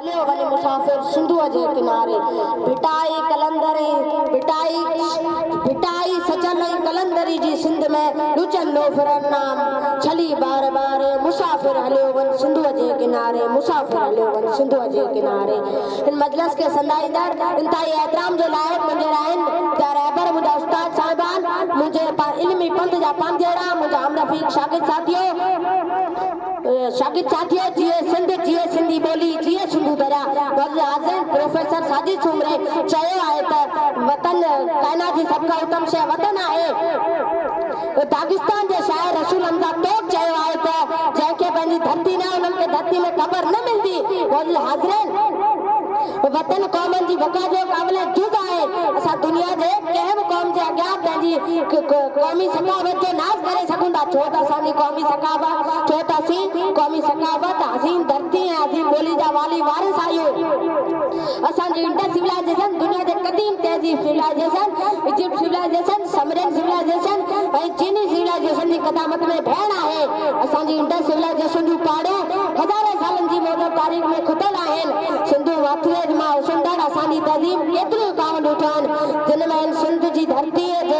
هليو هلي مسافر سنڌوء جي ڪناري، ڀٽائي قلندر ۽ ڀٽائي ڀٽائي سچل ۽ قلندري جي سنڌ ۾ لچن لوفرن نام ڇلي بار بار مسافر هليو وڃ سنڌوء جي ڪناري مسافر هليو وڃ سنڌوء جي ڪناري هن مجلس کي سندائيندڙ انتهائي احترام جي لائق منجهر آهن منهنجا رهبر منهنجا استاد صاحبان منهنجي علمي پنڌ جا پنڌيئڙا منهنجا همرفيق شاگرد ساٿيو. شاگرد ساٿيو جيئي سنڌ جيئي سنڌي ٻولي جيئي سنڌو دريا وزيراعظم پروفيسر ساجد سومري چيو آهي ته وطن ڪائنات جي سڀ کان اتم شيء وطن آهي داغستان جي شاعر رسول حمزه توڪ چيو آهي ته جنهن کي پنهنجي ڌرتي نه انهن کي ڌرتي ۾ قبر نه ملندي معزز حاضرين وطن قومن جي بقا جو قابل جز آهي اسان دنيا جي ڪنهن به قوم جي اڳيان پنهنجي قومي ثقافت جو خاص ڪري سگهون ٿا ڇو ته اسان جي قومي ثقافت ڇو ته اسين قومي ثقافت عظيم ڌرتي ۽ عظيم ٻولي جا والي وارث آهيون اسان جي انڊس سولائيزيشن دنيا جي قديم تهذيب civilization Egypt civilization Sumerian civilization ۽ چيني سولائيزيشن جي قدامت ۾ ڀيڻ آهي اسان جي انڊس سولائيزيشن جون پاڙون هزارين سالن جي موجب تاريخ ۾ کٽيل آهن سنڌو واٿريج مان اسندڙ اسان جي تهذيب ڪيتريون ڪاوندون ٺهن جن ۾ هن سنڌ جي ڌرتي جي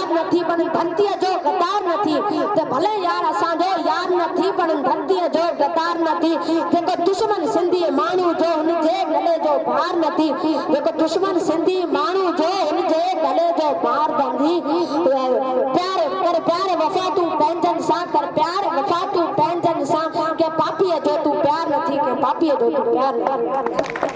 يار نه ٿي بڻ ڌرتيء جو غدار نه ٿي ته ڀلي يار اسان جو يار نه ٿي بڻ ڌرتيء جو غدار نه ٿي جيڪو دشمن سنڌي ماڻهو جو هن جي گلي جو بار نه ٿي جيڪو دشمن سنڌي ماڻهو جو هن جي گلي جو بار نه ٿي پيار ڪر پيار وفا تون پنهنجن سان ڪر پيار وفا تون پنهنجن سان ڪنهن پاپيء جو تون پيار نه ٿي ڪنهن پاپيء جو تون پيار نه ٿي.